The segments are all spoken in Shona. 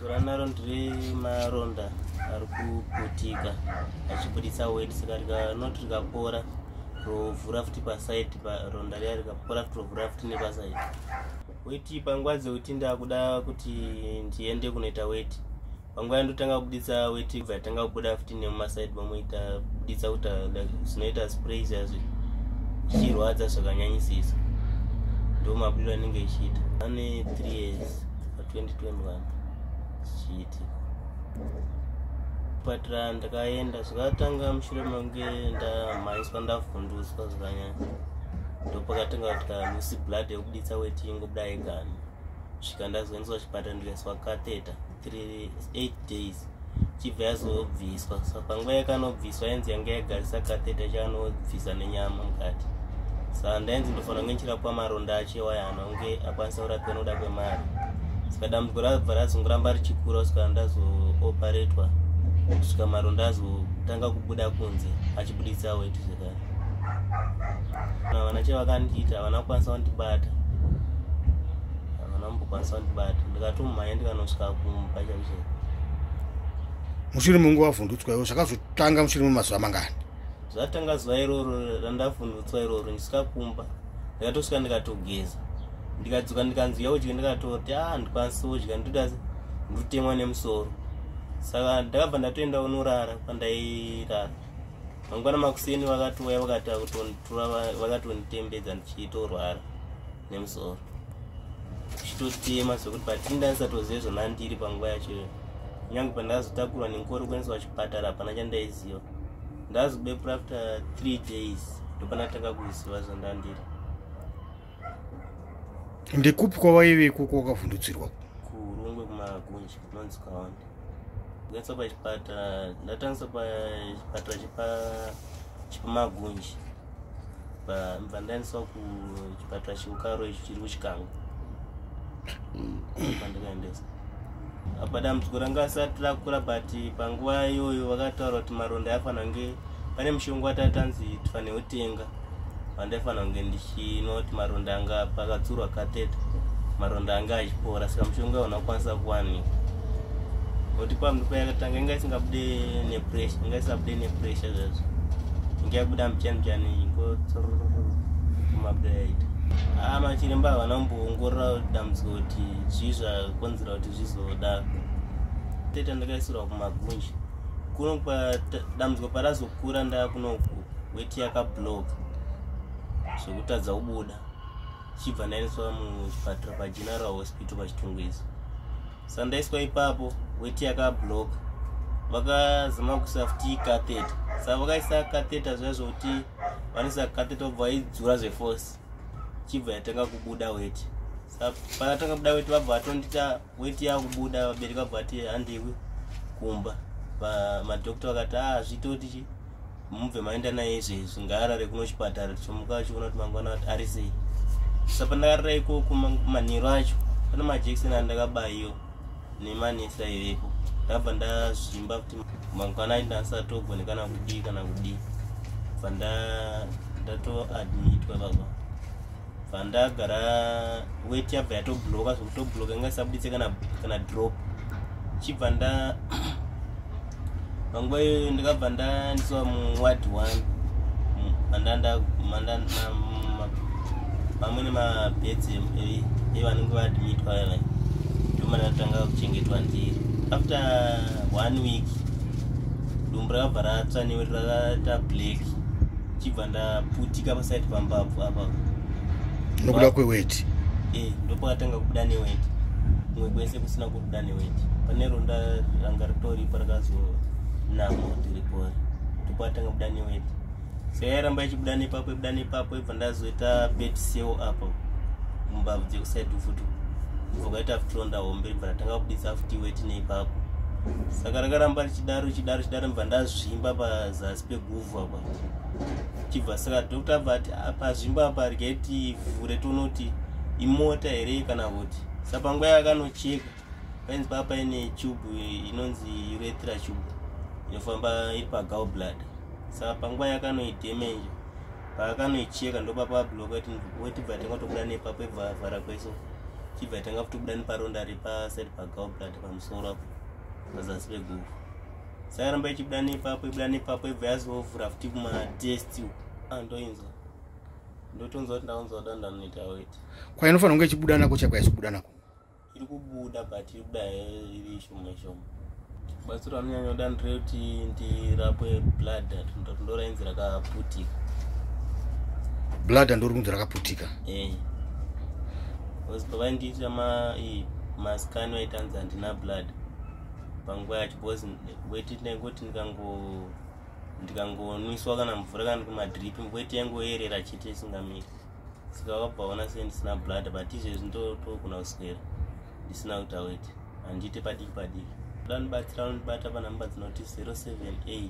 Zora naro ndiri maronda ari kuputika achibuditsa weti saka rikanoti rikapora rovhura futi pasaidi paronda riya rikapora futi rovhura futi nepasaidi weti panguva dzekuti ndakuda kuti ndiende kunoita weti panguva yandotanga kubuditsa weti bva yatanga kubuda futi nemumasaidi mamoita buditsa kuti zvinoita sprays yazvi zvichirwadza zvakanyanyisisa ndomabudiro anenge ichiita ane three years 2021 zvichiitika kupatira ndakaenda zvakatanga mushure mange ndamhanyiswa ndavhunduswa zvakanyanya ndopakatanga kutika lucy blood yekubuditsa weti ingobuda yegani svika ndazoendeswa chipatara ndikaiswa kateta 38 days chibva yazobviswa so panguva yakanobviswa ainzi yanga yagarisa kateta chaanobvisa nenyama mukati sa ndainzi ndofanira kunge ndichirapwa maronda achewa yana unge akwanisa kurapwa nokuda kwemari saka dambudziko rabva razongoramba richikura kusvika ndazooperatwa kusvika maronda azotanga kubuda kunze achibuditsa weti zvekare vana chevakandiita havana kukwanisa kundibata havana kumbokwanisa kundibata ndikatomhanya ndikanosvika kumba mushure mungu wavhundutswa iwo zvakazotanga mushure memazuva mangani zvatanga zuva iroro randavhundutswa iroro ndisikakumba ndikatosvika ndikatogeza ndikadzoka ndikanzi uya udye ndikatoti a ah, ndikwanisi udya ndoda ndotemwa nemusoro saka ndakabva ndatoenda unorara kwandairara mangwana makuseni vakatouya vakatonditembedza ndichitorwara nemusoro chitotema sokuti patini ndaisatozive zvonandiri panguva yachoyo kunyange pandazotakurwa nenkoro kuendeswa chipatara hapana chandaiziva ndazobepura after three days ndopanatanga kuziva zvandandiri ndekupi kwavaive ikoko wakavhundutsirwa kurungwe kumagunji kunonzi kaonde kuendeswa pachipatara ndatangisa pachipatara chepamagunji ndibva ndaendeswa kuchipatara cheukaro icho chiri kuchikango pandikaendesa apa dambudziko ranga asati rakura but panguva iyoyo vakataura kuti maronda aifana kunge pane mushonga watatanzi tifanire kutenga vandaifanira kunge ndichino kuti maronda anga pakatsurwa kateta maronda anga achipora saka mushonga unakwanisa kuwanika kuti pambi payakatanga inga isingabude nepressure inga isabude nepressure zvazvo inga yabuda mchani chani ingo kumabudayaita aa ah, machiremba havana kumboongorora dambudziko kuti zvii zvakonzera kuti zvizodaro tete ndakaisirwa kumagunji kuno dambudziko parazokura ndakuno weti yakabloka zvekutadza kubuda chibva ndaendeswa muchipatara pageneral hospital pachitungwizo sandaiswa ipapo weti yakablock vakazama kuisa futi catheta saka vakaisa catheta zviya zvokuti vanoisa catheta vobva vaidzura zveforce chibva yatanga kubuda weti saka panatanga kubuda weti vabva vatondita weti yakubuda vabereki vabva vati handiwi kumba madokta vakati a ah, zvitoti chi mubve maenda naye izvezvi ngaarare kuno chipatara tichomuka achiona kuti mangwana ati ari sei sa pandakarira ikoko manheru acho pane majekiseni andakabaiwa nemanesa ivepo ndabva ndazvimba kuti mangwana aiti ndasatogone kana kudii kana kudii bva ndatoadmitwa baba pandagara wet yabva yatobloka zvekutobloka inga isabuditse kana kana drop chibva nda panguva iyoyo ndikabva ndandiswa muward one pamwe nemabeds evanenge vaadmitwa ava ndomandatanga kuchengetwa ndiri after one week dumbu rakabva ratsva newe rakaita black chibva ndaputika paside pambabvu apa nokuda kweweti e eh, ndopakatanga kubuda neweti kumwe kwese kusina kubuda neweti pane ronda ranga ritoripo rakazonamo tiripori ndopakatanga kubuda neweti so yairamba ichibuda nepapo ibuda nepapo ibva ndazoita bet seo apo mumbabvu dzekuside futi vakaita futi ronda hombe ibva ratanga kubudisa futi weti neipapo saka rakaramba richidaro richidaro richidaro mva ndazvimba pazasi peguvhu apa chibva saka doctor vati pazvimbo apa ryai tivhure tonoti imota here kana kuti sa panguva yakanocheka painzi paa paine tube inonzi uretra tube inofamba iri pagal blood saka panguva yakanoidemenja paakanoicheka ndopapabloka wetibva tanga kutobuda nepapo ibvavhara kweso chibva tanga kutobuda neparonda repasaid pagal blood pamusoro apo pazasi peguvhu sairamba ichibuda nepapo ibuda nepapo ibva yazovhura futi matest andoinzwa ndotonzwa kuti ndaunzwa da ndanoita weti kwainofanira kunge ichibuda nako chako yaichibuda nako iri kubuda but iri kubuda iri shoma shoma batsiro anonyanya kuda ndirekuti ndirapwe blood ndorainzi rakaputika blood andori kunzi rakaputika eh. bcause pavaindiita ma mascan vaitanzi handina blood panguva yacho because weti tinenge kuti ndikango ndikangonwiswa kana mvura kana kumadrip weti yangoyerera chete isingamiri saka wakabaona se ndisina blood but izvezvi ndotogona kuswera ndisina kuita weti handiite padiki padiki danibatsira unondibata panhamba dzinoti 078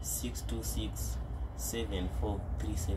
626 7437